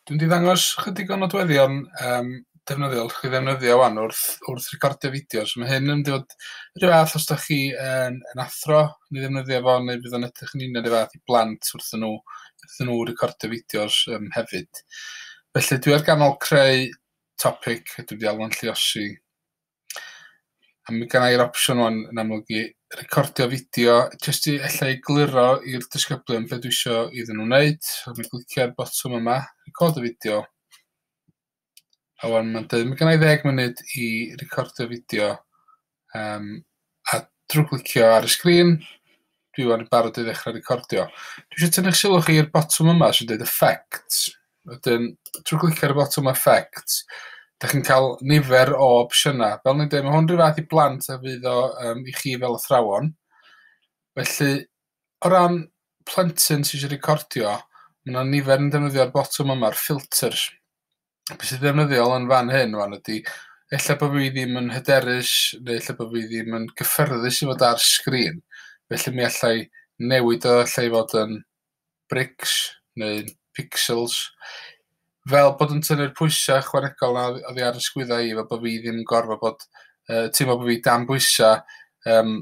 Dwi'n mynd i ddangos ychydig o nodweddion yym defnyddiol allwch chi ddefnyddio ŵan wrth wrth recordio fideos. Mae hyn yn mynd i fod rhyw fath os da chi yn yn athro neu ddefnyddio fo neu bydd o'n edrych yn union rhyw fath i blant wrthyn nhw wrthyn nhw recordio fideos yym hefyd. Felly dwi ar ganol creu topic a dwi wedi alw'n lluosi A mi gynna i'r opsiwn ŵan yn amlwg i recordio fideo jyst i ella i gluro i'r disgyblion be' dwi isio iddyn nhw wneud. So dwi'n clicio'r botwm yma, record a video. A ŵan ma'n deud ma' gynna i ddeg munud i recordio fideo yym a drwy glicio ar y sgrin dwi 'wan yn barod i ddechrau recordio. Dwi eisiau tynnu'ch sylw chi i'r botwm yma sy'n dweud Effects. Wedyn, trwy glicio ar y botwm Effects, da chi'n cael nifer o opsiynau. Fel ni'n dweud, mae hwn rhyw fath i blant a fydd o um, i chi fel athrawon. Felly, o ran plentyn sy'n eisiau recordio, mae yna nifer yn defnyddio'r botwm yma'r filters. be' sy ddefnyddiol yn fan hyn wan ydi ella bo' fi ddim yn hyderus neu ella bo' fi ddim yn gyffyrddus i fod ar sgrin felly mi allai newid o ella i fod yn brics neu pixels fel bod yn tynnu'r pwysa' ychwanegol 'na o- oddi ar 'yn sgwydda i fel bo' fi ddim yn gorfo bod yy teimlo bo' fi dan bwysa' yym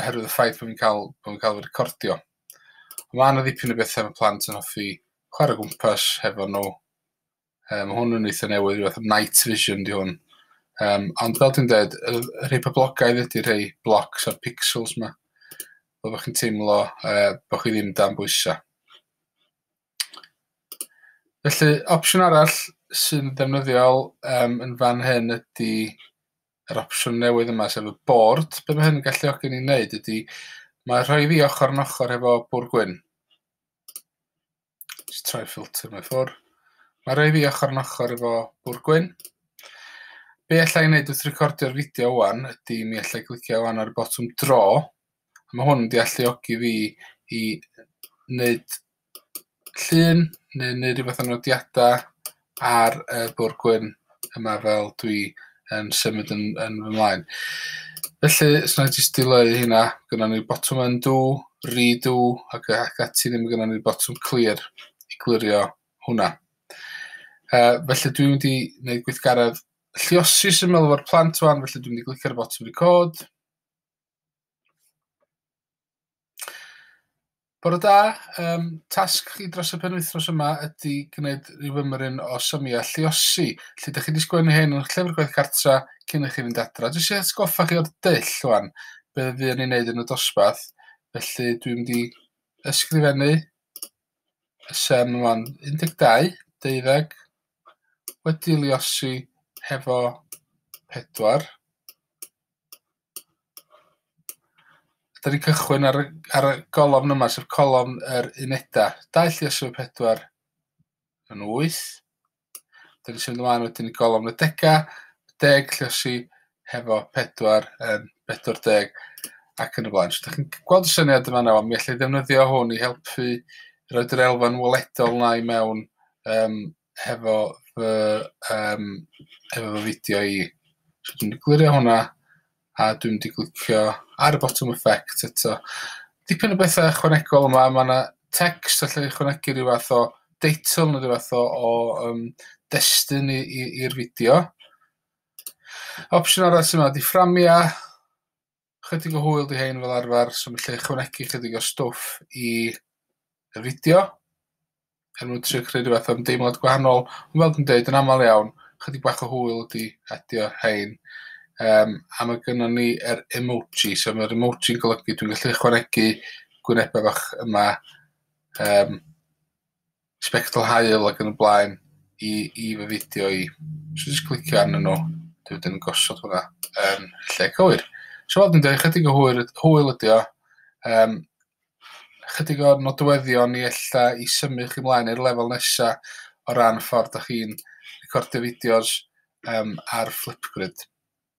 oherwydd y ffaith bod fi'n cael bod fi'n cael fy recordio. Mae yna ddipyn o bethau mae plant yn hoffi chwarae gwmpas hefo nhw. Um, mae hwn yn eitha newydd, rhywbeth am night vision di hwn. Um, ond fel dwi'n dweud, y rhai poblogaidd ydy rhai blocs a'r pixels yma. Fel bod chi'n teimlo uh, bod chi ddim dan bwysau. Felly, opsiwn arall sy'n ddefnyddiol um, yn fan hyn ydy yr opsiwn newydd yma, sef y board, be mae hyn yn galluogi ni'n neud ydy, mae rhoi fi ochr yn ochr hefo bwr gwyn. Just troi ffilter mewn ffwr. Mae rhoi fi ochr yn ochr efo bwr gwyn. Be allai ei wneud wrth recordio'r fideo wan ydy mi allai glicio wan ar y botwm dro. Mae hwn yn dealluogi fi i wneud llun neu'n neud rhywbeth o nodiada ar y bwr' gwyn yma fel dwi yn symud yn yn fy mlaen. Felly os nâi jyst dileu hynna gynnon ni botwm undo, redo ac yy ac ati ddim gynnon ni botwm clear i glirio hwnna. Yy felly dwi mynd i neud gweithgaredd lliosi syml efo'r plant ŵan felly dwi mynd i glicio ar y botwm record. Bore da, um, tasg chi dros y penwythnos yma ydy gwneud rhyw ymryn o symiau lliosi. Lle ydych chi wedi sgwennu hyn yn llyfr gwaith cartra cyn i chi fynd adra. Dwi eisiau atgoffa chi o'r dyll rwan, be fuon ni'n neud yn y dosbarth. Felly dwi'n mynd i ysgrifennu y sem rwan 12, deuddeg, wedi lliosi hefo pedwar. Dyn ni'n cychwyn ar y, ar y golofn yma, sef colofn yr unedau. Daill Iesu 4 yn 8. Dyn ni'n symud ymlaen wedyn i golofn y degau, deg lliosi hefo 4 yn 40 ac yn y blaen. So, da chi'n gweld y syniad yma nawr, mi allai ddefnyddio hwn i helpu rhoi yr elfen weledol na i mewn um, hefo fy yym hefo fy fideo i. So dwi'n mynd i glirio hwnna a dwi'n mynd i glicio ar y botwm effect eto. Dipyn o betha ychwanegol yma ma' 'na text allai ychwanegu ryw fath o deitl ne' ryw fath o o yym destun i i i'r fideo. Opsiwn arall sy 'ma 'di fframia. Chydig o hwyl 'di hein fel arfer, so felly ychwanegu chydig o stwff i y fideo er mwyn trio creu rhyw fath o ymdeimlad gwahanol, ond fel dwi'n deud yn aml iawn, chydig bach o hwyl ydi adio hein. Um, a mae gynnon ni yr er emoji, so mae'r emoji'n golygu dwi'n gallu ychwanegu gwynebau bach yma um, sbectol haul ac yn y blaen i i fy fideo i. So jyst clicio arnyn nhw, dwi wedyn yn gosod hwnna yn lle cywir. So fel dwi'n dweud, chydig o hwyl, hwyl ydi o. Um, chydig o'r nodweddion i ella i symud chi mlaen i'r lefel nesa o ran ffordd da chi'n recordio fideos um, ar Flipgrid.